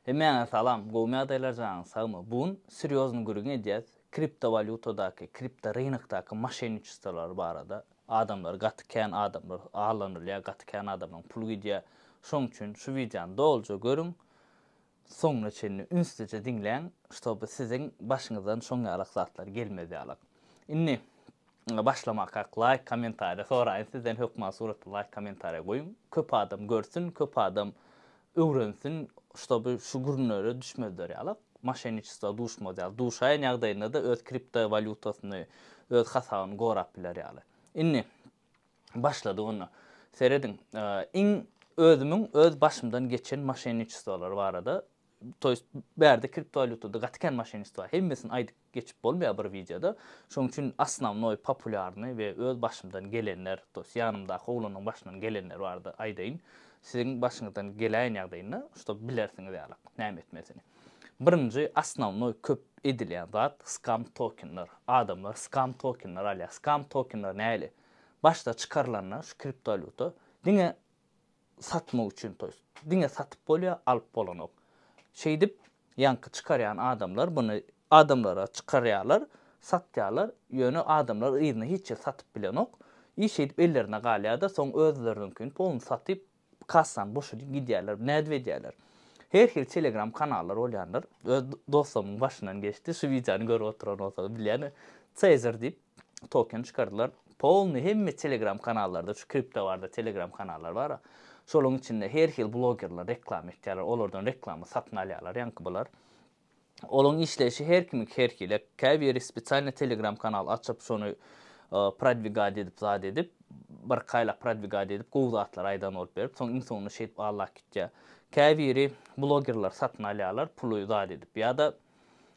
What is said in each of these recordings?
Hemmäňe salam, gowmy ýagdaýlar janyň sagmy, bu gün serýozny gürrüň edýäs, kripto walýutadaky, kripto rynokdaky maşenniçestwolary barada, adamlar gaty kän adamlar aldanylýar, gaty kän adamlaryň puly gidýär, şoň üçin şu wideony doluja görüň, soňuna çenli ünslice diňläň, ştoby siziň başyňyzdan şoň ýalak zatlar gelmez ýaly. Indi. Başlamak ak laýk kommentariýa soraýyn sizden hökman suratly laýk kommentariýa goýuň köp adam görsün köp adam öwrensin ştoby şu gürnere düşmezler ýaly maşenniçestwa duşmaz ýaly duşaýan ýagdaýyndada öz kripto walýutasyny öz hasabyny gorap biler ýaly indi başladyk onda serediň iň özümiň öz başymdan geçen maşenniçestwalary barada toýst bärde kripto walýutada gaty kän maşenniçestwa hemmesini aýdyp geçip bolmaýar bir wideoda şoň üçin osnovnoý populýarnyý we öz başymdan gelenler to ýest ýanymdaky oglanyň başyndan gelenler barada aýdaýyn siziň başyňyzdan geläýen ýagdaýynda ştob bilersiňiz ýalyk näme etmelisini birinji osnovnoý köp edilýän zat skam tokenler adamlar skam tokenler alýar skam tokenler näli başda çykarylanda şu kriptowalýuta diňe satmak üçin toýs. Diňe satyp bolýa, alyp bolanok. Şeýdip, ýaňky çykarýan adamlar buny adamlara çykarýarlar, satýarlar, ýöne adamlar yzyna hiç ýer satyp bilenok. I şeýdip ellerinde galýada, soň özleriniňkini polny satyp, kassany boşadyp gidýärler. Nädip edýärler? Her hili telegram kanallar bolýandyr. Öz dostlarymyň başyndan geçdi, şu wideony görüp oturan bolsaňyz bilýän, Caesar diýip, token çykardylar. Polny hemme telegram kanallarda şu kripto barada telegram kanallar bar. Şolaryň içinde her hil blogerler reklama etýärler. Olardan reklama satyn alýarlar ýaňky bular. Olaryň işleýşi her kimiki her hili. Käbiri spesialny telegram kanal açyp şony prodwigat edip zat edip birki aýlap prodwigat edip gowy zatlar aýdan bolup berip soň iň soňunda şeýdip allap gitýär. Käbiri blogerler satyn alýarlar puly zat edip ýa-da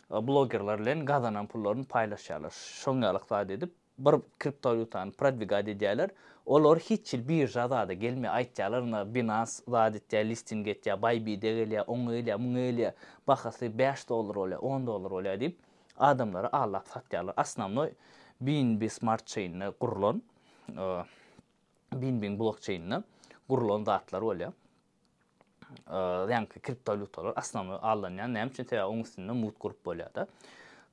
Blogerler bilen gazanan pullaryny paýlaşýarlar. Şoň ýalyk zat edip bir kriptowalýutany prodwigat edýärler. Olar hiç hil birža zada gelmeýär. Aýtýarlar ynha Binance zat etýär, listing etýär, Bybit-e gelýär, oňa gelýär, muňa gelýär. Bahasy bäş dollar bolýar, on dollar bolýar diýip adamlara aldap satýarlar. Osnownoý BNB smart çeýnine gurlan BNB-iň blokçeýnine gurlan zatlar bolýar. ýaňky kriptowalýutalar asnamy allanýar. Näme üçin? Sebäbi onuň üstünde mut gurup bolýar-da.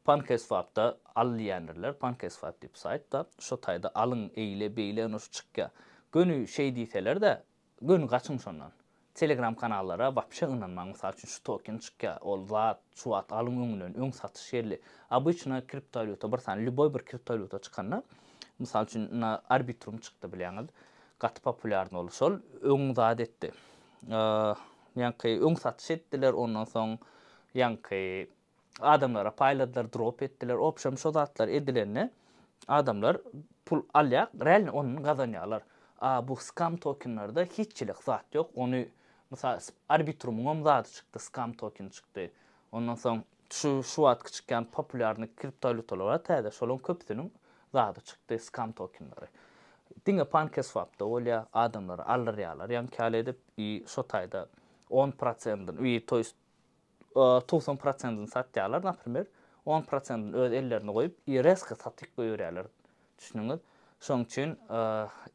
PancakeSwap-da al diýýändirler. PancakeSwap diýip saýtda, şo taýda alyň, eýle, beýle, ýöne şu çykýar. Göni şeý diýseler-de, göni gaçyň şondan. Telegram kanallara wapşe ynanmaň. Mysal üçin şu token çykýar, ol zat, şu wagt alyň öňünden, öň satyş geldi. Obyçna kriptowalýuta bir sany, lýuboý bir kriptowalýuta çykanda, mysal üçin, na Arbitrum çykdy bilýäňiz. Gaty populýarny ol şol öň zat etdi ýaňky öň satyş etdiler ondan soň ýaňky adamlara paýladylar drop etdiler obşem şo zatlar edilende adamlar pul alýar realno ondan gazanýarlar a bu skam tokenlarda hiçilik zat ýok ony mysal arbitrumyňam zady çykdy skam tokeni çykdy ondan soň Şu şu wagt kiçikän populýarnyý kriptowalýutalar bar täze şolaň köpüsiniň zady çykdy skam tokenleri. Diňe pankeswapda bolýa adamlary aldyrýalar ýaňky ýaly edip i şo taýda on prosendin i to ýest togsan prosendini satýalar naprimer on prosendini öz ellerinde goýup i resko satyp goýberýaler düşündiňiz şoň üçin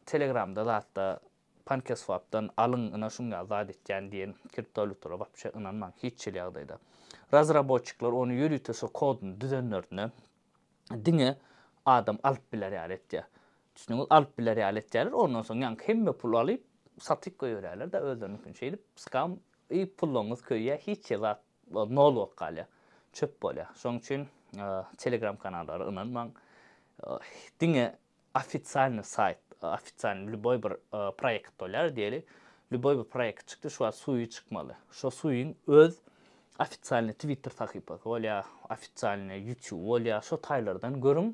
telegramda zatda Pankeswapdan alyň ina şuňňa zat etýän diýen kriptowalýutalara wapşe ynanmaň hiç hili ýagdaýda. Razrabotçikler ony ýörite şo kodyny düzenlerine diňe adam alyp biler ýaly etýär. Düşdüňiz alyp biler ýaly etýärler ondan soň ýaňky hemme pul alyp satyp goýberýärler da özleriniňkini şeýdip skam i pullaryňyz köýýär hiç hili zat nol bolup galýar çöp bolýar şoň üçin telegram kanallara ynanmaň diňe Ofisialny saýt, ofisialny lýuboý bir proýekt bolýar, diýeli, lýuboý bir proýekt çykdy, şu wagt suwy çykmaly. Şo suwyň öz ofisialny twitter sahypasy bolýar, ofisialny ýutube bolýar, şo taýlardan görüň,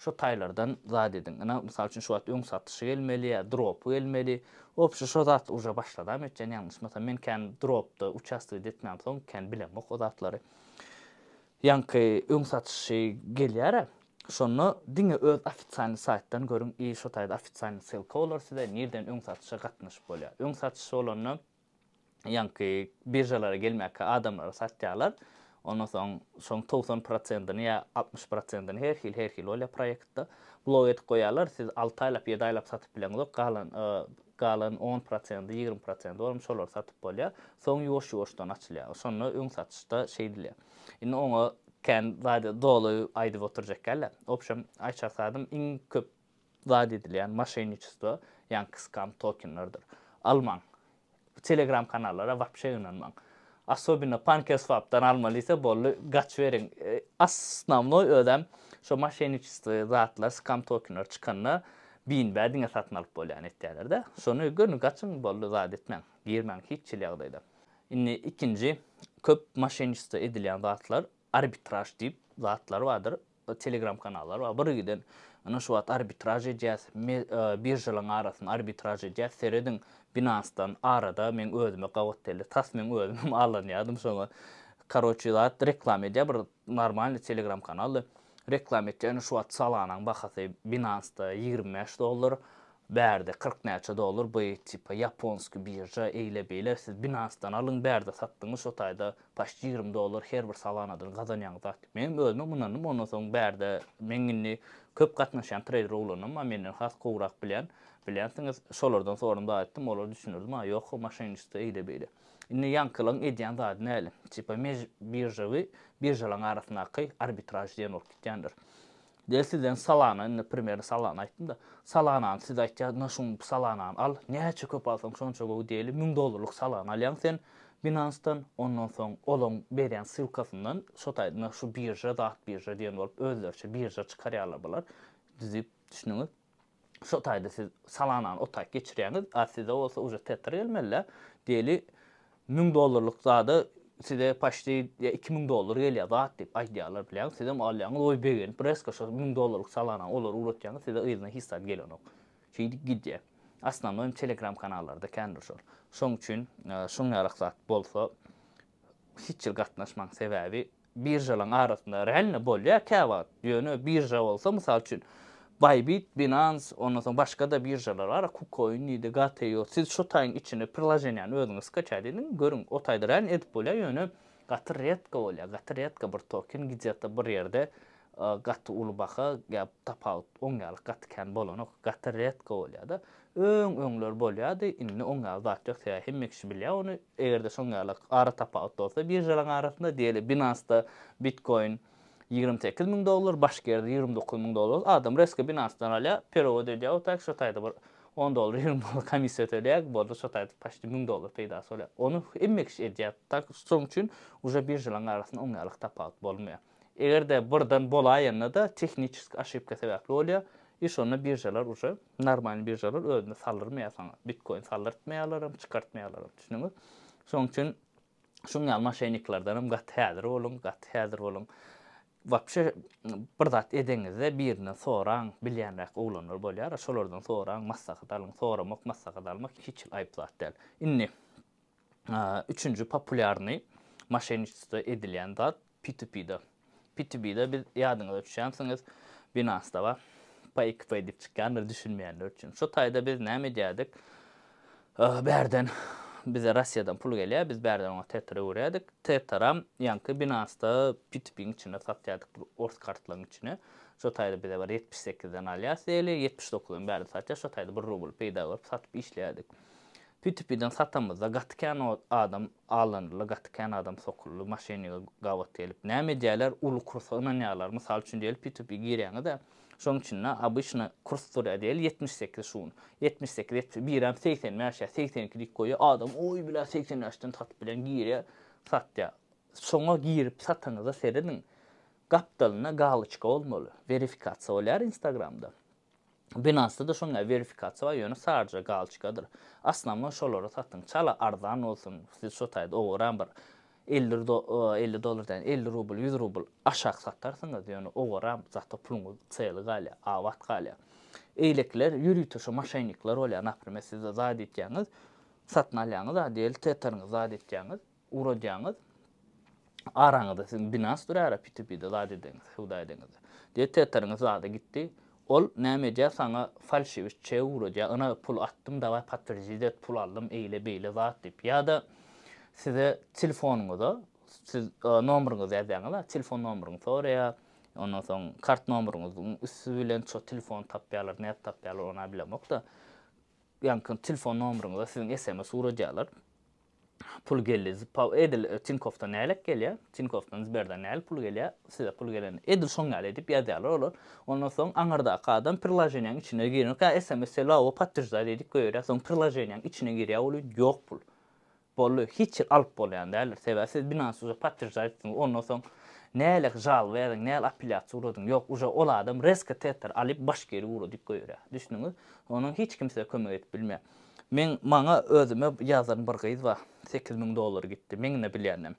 şo taýlardan zat ediň. Ynha, mysal üçin, şu wagt öň satyşy gelmeli ýa dropy gelmeli. Wobşe şo zat uje başladam etýän, ýalňyşmasam. Men kän dropda uçastogida etmänsoň, kän bilemok o zatlary. Ýaňky öň satyşy gelýärä. Şonda diňe öz ofisialny saýtdan görüň i şo taýda ofisialny ssylka bolar size nirden öň satyşa gatnaşyp bolýar. Öň satyş bolanda ýaňky biržalara gelmäkkä adamlara satýarlar. Ondan soň şoň togsan prosentini ýa altmyş prosentini her hil her hil bolýar proýektda blok edip goýýarlar siz alty aýlap ýedi aýlap satyp bileňizok galan galan on prosendi, ýigrimi prosendi bolam şolary satyp bolýar. Soň ýuwaş-ýuwaşdan açylýar. Şonda öň satyşda şeýdilýär. Indi oňa kän zady doly aýdyp oturjak däldir. W obşem aýçar sadym iň köp zat edilýän moşenniçestvo, ýaňky skam tokenlerdir. Almaň. Telegram kanallara wapşe ynanmaň. Asobino pankeswapdan almaly ise boldy gaçyberiň. Osnownoý özem şo moşenniçestvo zatlar, skam tokenler çykanda Binbä diňe satyn alyp bolýan etýäler-dä. Şony görüň gaçyň boldy zat etmäň. Girmäň hiç hili ýagdaýda. Indi ikinji köp moşenniçestvo edilýän zatlar arbitraž diýip zatlar bardyr. Telegram kanallar bar. Bir giden ynha şu wagt arbitraž edýäs, biržalaryň arasynda arbitraž edýäs, serediň Binance-dan arada meň özüme gabat geldi. Tas meň özüm hem allanýardym şoňa. Karoçi zat reklama edýär bir Normalny telegram kanalda reklam etýä ine şu wagt salanaň bahasy binansda ýigrimi bäş dollar bärde kyrk näçe dollar by tipa ýaponski birža eýle beýle siz binansdan alyň bärde satdyňyz şo taýda paşt ýigrimi dollar her bir salanadan gazanýaňyz zat menem özümem ynandym ondan soň bärde meň indi köp gatnaşýan treýder oglanlarym bar menden has gowrak bilýän bilýänsiňiz şolardan soradym zat etdim olar düşündirdi maňa ýok o maşenniçestvo eýle beýle. Indi ýaňkylaň edýän zady näle? Tipa mej biržawy biržalaň arasyndaky arbitraž diýen bolup gitýändir. Del sizden salana indi primerni salana aýtdymda. Salanany siz aýtýa na şuň bu salanany al. Näçe köp alsaň şonça gowy diýeli müň dollarlyk salana alýaň sen Binansdan ondan soň olaň berýän ssylkasyndan şo taýda na şu birža zat birža diýen bolup özleriçe birža çykarýarlar bular düzüp düşdüňiz. Şo taýda siz salanany o taý geçirýäňiz, a size bolsa uje tetra gelmeli-dä. Diýeli, müň dollarlyk zada size poçti iki müň dollar gelýär zat diýip aýdýarlar bilýäňiz. Sizem alýaňyz, oý begenip resko şo müň dollarlyk salanany olara ugratýaňyz, size yzyna hiç zat gelenok. Şeýdip gidýär. Asnanoý telegram kanallarda kändir şol. Şoň üçin şuň ýarak zat bolsa hiç ýer gatnaşmaň sebäbi Biržalaryň arasynda realno bolýar käwagt. Ýöne birža bolsa, mysal üçin, Bybit, Binance, ondan soň başga-da biržalar bar, Kucoin diýdi, Gate-io. Siz şu taýyň içine prilajeniýany özüňiz skaçat ediň, görüň, o taýda realno edip bolýar, ýöne gaty retko bolýar, gaty retko bir token gidýata bir ýerde gaty uly baha ýa tapawut oň ýaly gaty kän bolanok, gaty retko bolýar-da. Öň öňler bolýady, indi oň ýaly zat ýok, sebäbi hemme kişi bilýär ony, eger-de şoň ýaly ara tapawut bolsa biržalaryň arasynda, diýeli Binance-da bitkoin ýigrimi sekiz müň dollar, başga ýerde ýigrimi dokuz müň dollar, adam resko Binance-dan alýar, perewod edýär we taýk şo taýda bir on dollar, ýigrimi dollar komissiýa ötelýär, boldy şo taýda paçti müň dollar peýdasy bolýar. Ony hemme kişi edýär, taýk şoň üçin uje biržalaryň arasynda oň ýaly tapawut bolmaýar. Eger-de birden bolaýanda-da tehniçeski oşipka sebäpli bolýar i şonda biržalar uje. Normalny biržalar özüne saldyrmaýar saňa. Bitkoin saldyrtmaýarlaram, çykartmaýarlaram. Düşündiňiz? Şoň üçin şuň ýaly moşenniklerdenem gaty häzir boluň, gaty häzir boluň. Wapşe bir zat edeňizde birinden soraň, bilýänräk oglanlar bolýar, şolardan soraň, maslahat alyň. Soramak, maslahat almak hiç hili aýyp zat däl. Indi. Üçünji populýarnyý moşenniçestvo edilýän zat P2P-de. P2B-de biz ýadyňyza düşýänsiňiz Binance-da bar. PayXP diýip çykýandyr düşünmeýänler üçin. Şo taýda biz näme edýärdik? Bärden bize Russiýadan pul gelýär, biz bärden oňa Tether öwürýärdik. Tetheram ýaňky Binance-da P2P-iň içinde satýardyk ors kartlaryň içine. Şo taýda bize bir ýetmiş sekizden alýar seli, ýetmiş dokuzdan bärde satýar. Şo taýda bir rubl peýda görüp satyp işleýärdik. Pütüp giden satamyzda gaty kän adam allanyldy, gaty kän adam sokuldy, maşenniga gabat gelip, näme edýärler, uly kursa ynanýarlar, mysal üçin diýeli pütüp girýäňiz-ä, şoň içinde obyçny kurs durýar diýeli ýetmiş sekiz şun, ýetmiş sekiz ýetmiş birem segsen bäş ýa segsen iki diýip goýýar, adam oý bilä segsen bäşden satyp bilen girýär, satýar. Şoňa girip satanyza serediň, gapdalynda galoçka bolmaly, werifikasiýa bolýar instagramda, Binance-da-da şonday verifikasiýa bar, ýöne sadrja galçkadyr. Asnamon şolara satyň, çala arzan bolsun, siz şo taýda owaran bir elli elli dollar däl, elli rubl, ýüz rubl aşak satarsyňyz, ýöne owaran zat-a puluňyz çyly galýar, abat galýar. Eýlekiler ýörite şo maşennikler bolýar, naprimer siz-de zat edýäňiz, satyn alýaňyz-a diýeli, tetheriňizi zat edýäňiz, Ugradýaňyz. Araňyzda siziň binans durýara P2P-de zat edeňiz, söwda edeňiz. Diýe Teteriňiz zada gitdi. Ol näme edýär saňa falşiwit çeg ugradýar, ynha pul atdym daway potwerdit et pul aldym eýle beýle zat diýip. Ýa-da size telefonyňyza siz nomryňyzy ýazýaňyz a telefon nomryňy soraýar. Ondan soň kart nomryňyzyň üsti bilen şo telefony tapýarlar nädip tapýarlar ony a bilemokda. Ýaňky telefon nomryňyza siziň sms ugradýarlar. pul geldi. Zpaw edil Tinkofdan nälet gelýär. Tinkofdan Sberden näl pul gelýär. Size pul gelen edil şoň ýaly edip ýazýarlar olar. Ondan soň aňyrdaky adam priloženiýaň içine girmek ýa sms selowo podtwždaj edip goýberýär. Soň priloženiýaň içine girýär ol ýüz ýok pul. Boldy. Hiç ýer alyp bolýan däldir. Sebäbi siz Binance uje podtwždaj etdiňiz. Ondan soň näle žalba ýazyň, näl apelýasiýa ugradyň. Ýok uje ol adam resko tetr alyp baş geri ugradyp goýberýär. Düşdüňiz? Onuň hiç kim size kömek edip bilmeýär. Men maňa özüme ýazan bir gyz bar. Sekiz müň dollar gitdi. Meňde bilýänem.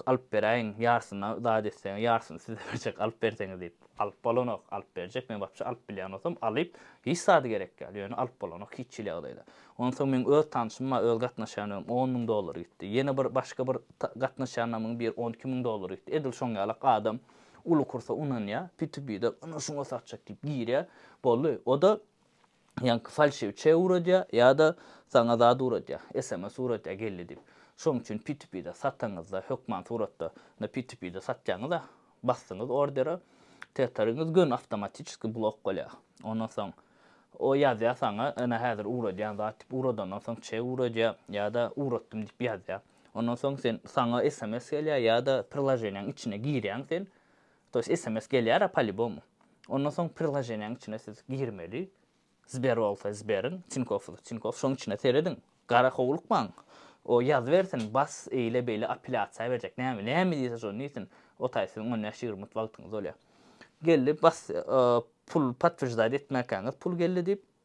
Alyp beräýiň. Ýarsyna zat etseň, ýarsyny size berjek alyp berseňiz diýip. Alyp bolanok. Alyp berjek. Men wapşe alyp bilýän bolsam alyp. Hiç zady gerek ýal. Ýöne alyp bolanok hiç hili ýagdaýda. Onsoň meň öz tanşym bar, öz gatnaşýanlarym on müň dollar gitdi. Ýene bir başga bir gatnaşýanlarymyň biri on iki müň dollar gitdi. Edil şoň ýalak adam uly kursa ynanýar. P2P-den ynha şuňa satjak diýip girýär. Boldy. O-da Ýaňky falşiw çeg uradýa ýa-da saňa zat uradýa, sms uradýa geldi diýip. Şoň üçin P2P-de sataňyzda hökman suratda indi P2P-de satýaňyz-a, basdyňyz ordere, teteriňiz gön awtomatiçeski blok bolýa. Ondan soň o ýazýa saňa ene häzir uradýan zat diýip, uradandan soň çeg uradýa ýa-da uratdym diýip ýazýa. Ondan soň sen saňa sms gelýä ýa-da prilaženiýaň içine girýäň sen, To ýest sms gelýär-ä polibomu. Ondan soň prilojeniýäň içine siz girmeli. Sber bolsa Sberiň, Tinkow bolsa Tinkow şoň içine serediň. Gara howlukmaň. O ýazybersin, bas, eýle beýle apelýasiýa berjek. Näme, näme diýse şony diýsin. O taý siziň on bäş ýigrimi minut wagtyňyz bolýar. Geldi, bas, pul potwirjdat etmäkäňiz pul geldi diýip.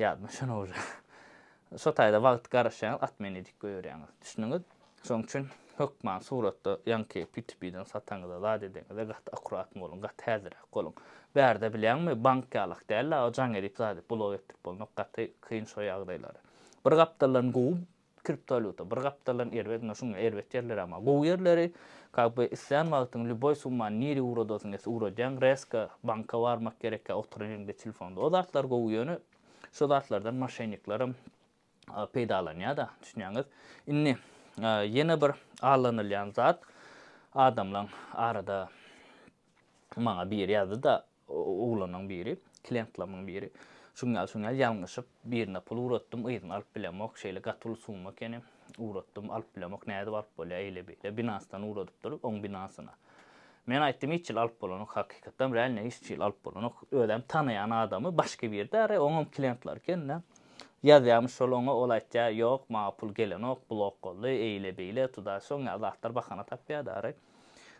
Ýadyma şon owja. Şo taýda wagt garaşýaňyz at meni dik goýberýäňiz. Düşdüňiz? Şoň üçin hökman suratda ýaňky P2P-den sataňyza zat edeňizde gaty akuratny boluň, gaty häzirräk boluň. Bärde bilýäňmi bank ýalak däl-a o jaň edip zady blow etdirip bolnok gaty kyn şo ýagdaýlary. Bir gapdaldan gowy Kriptowalýuta bir gapdaldan erbet ine şuňa erbet ýerleri ama gowy ýerleri kak be islän wagtyň lýuboý summany nirä ugradasyň ýese ugradýaň rezka banka barmak gerekýa oturan ýeriňde telefonda o zatlar gowy ýöne şo zatlardan moşenniklerim peýdalanýada düşünýäňiz indi ýene bir allanylýan zat adamlaň arada maňa biri ýazdyda Oglanyň biri, klientlarynyň biri, Şuňňäl-şuňňäl ýalňyşyp, birine pul ugratdym, yzyny alyp bilemok, şeýle gaty uly summa ekeni, ugratdym, alyp bilemok, nädip alyp bolýar, eýle-beýle, Binance-dan ugradypdyr, oň Binance-na. Men aýtdym, hiç hili alyp bolanok, hakykatdanam, realnyýam hiç hili alyp bolanok, özem tanaýan adamy, başga biri-dä, ara, oňam klientlary eken-dä. Ýazýarmyş şol oňa, ol aýtýar, ýok, maňa pul gelenok, blok boldy, eýle-beýle, tuda, şuňňäl zatlar bahana tapýar-da, ara.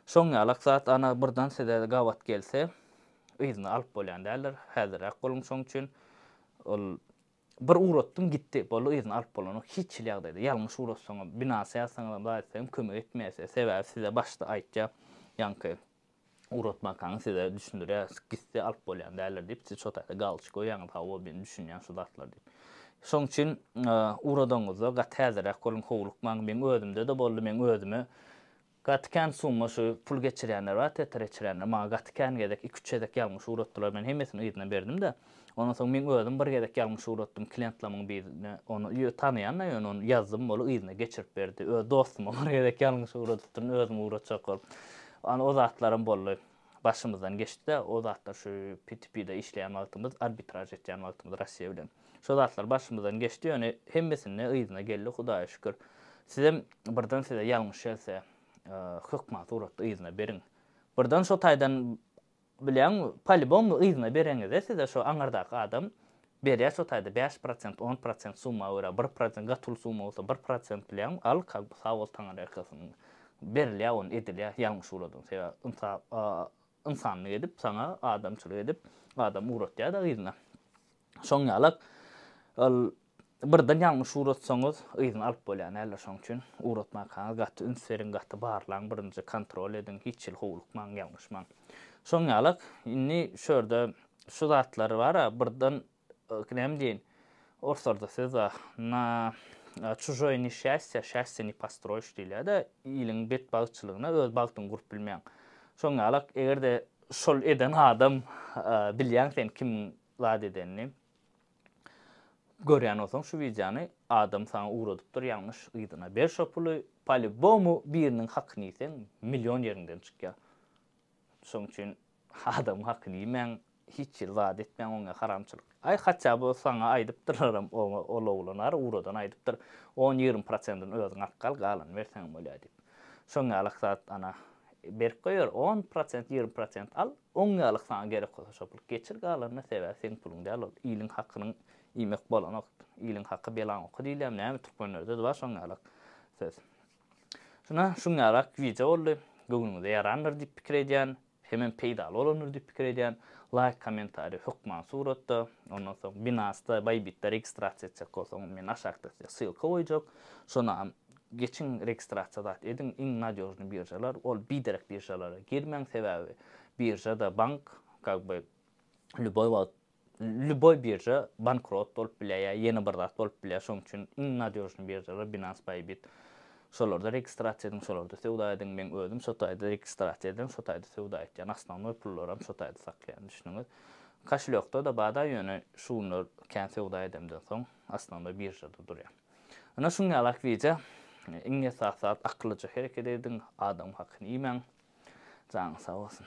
Şoň ýalak zat ana birden size gabat gelse yzyna alyp bolýan däldir häzirräk boluň şoň üçin ol bir ugratdym gitdi boldy yzyna alyp bolanok hiç hili ýagdaýda ýalňyş ugratsaňam binasy ýazsaňyzam zat etseňem kömek etmeýär size sebäbi size başda aýtýar ýaňky ugratmakaňy size düşündirýär gitse alyp bolýan däldir diýip siz şo taýda galçy goýýaňyz hawa men düşünýän şu zatlar diýip şoň üçin ugradanyňyzda gaty häzirräk boluň howlukmaň meň özümde-de boldy meň özüme Gaty kän summa şu pul geçirýänler bar tetre geçirýänler maňa gaty kän gezek iki üç gezek ýalňyş ugratdylar men hemmesini yzyna berdim-de ondan soň meň özüm bir gezek ýalňyş ugratdym klientlamyň birine ony ýö tanaýan-da ýöne ony ýazdym boly yzyna geçirip berdi öz dostuma bir gezek ýalňyş ugradypdyryn özüm ugratjak bolup ýöne o zatlaram boldy. Başymyzdan geçdi-de, o zatlar şu PTP-de işleýän wagtymyz, arbitraž etýän wagtymyz Russiýa bilen. Şo zatlar başymyzdan geçdi, ýöne hemmesinde yzyna geldi, Hudaýa şükür. Sizem birden size ýalňyş gelse, hökman suratda yzyna beriň. Birden şo taýdan, bilýäňmi, polibom yzyna bereňizde size şo aňyrdaky adam, Berýär şu taýda bäş prosent on prosent summa görä bir prosent gaty uly summa bolsa bir prosent bileň al kalb sag bol taňar erkesin berilýär ony edilýär ýalňyş uladyň sebäbi ynsap ynsanlyk edip saňa adamçylyk edip adam ugratýada yzyna şoň ýalak al birden ýalňyş ugratsaňyz yzyna alyp bolýar näler şoň üçin ugratmakaňyz gaty üns beriň gaty barlaň birinji kontrol ediň hiç hili howlukmaň ýalňyşmaň şoň ýalak indi şu ýerde Şu zatlar bar-a, birden näme diýeýin, oruslarda söz bar, Na çužoýe neşýastýe şastýe ne postroýiş diýilýär-de, iliň betbagtçylygyna öz bagtyňy gurup bilmeýäň. Şoň ýalak, eger-de şol eden adam, bilýäň sen kimiň zat edenini, görýän bolsaň şu wideony, adam saňa ugradypdyr ýalňyş yzyna, ber şo puly, polubomu biriniň hakyny iýseň, million ýeriňden çykýar. Şoň üçin Adamyň hakyny iýmäň, hiç hili zat etmäň oňe haramçylyk. Aý haçja bu saňa aýdypdyrlaram oňe ol oglan ar uradan aýdypdyr, on ýigrimi prosentini özüň alyp gal galany berseňem bolýa diýip. Şoň ýalyk zat ana berip goýar on prosent ýigrimi prosent al oň ýalyk saňa gerek bolsa şo pul geçir galanyna sebäbi seň puluň däl ol iliň hakynyň iýmek bolanok iliň haky belaň oky diýilýämi näme türkmenlerdede bar şoň ýalyk söz. Şuna şuňňarak wideo boldy. Göwnüňize ýarandyr diýip pikir edýän. Hemem peýdaly bolandyr diýip pikir edýän. Laýk, kommentariý, hökman suratda. Ondan soň Binance-da, Bybit-de registrasiýa etjek bolsaňyz men aşakda size ssylka goýjak. Şonam geçiň registrasiýa zat ediň. Iň nadýožnyý biržalar ol biderek biržalara girmäň sebäbi birža-da bank kak by lýuboý wagt Lýuboý birža bankrot bolup bilýär ýa ýene bir zat bolup bilýär şoň üçin iň nadýožnyý biržalar binance bybit şolarda registrasiýa ediň şolarda söwda ediň meň özüm şo taýda registrasiýa edýän şo taýda söwda etýän osnovnoý pullaram şo taýda saklaýan düşdüňiz kaşelýokda da bada ýöne şu günler kän söwda edemden soň osnovnoý biržada durýan ine şuň ýaly akwiýja iň esasy zat akyllyja hereket ediň adamyň hakyny iýmäň janyň sag bolsun.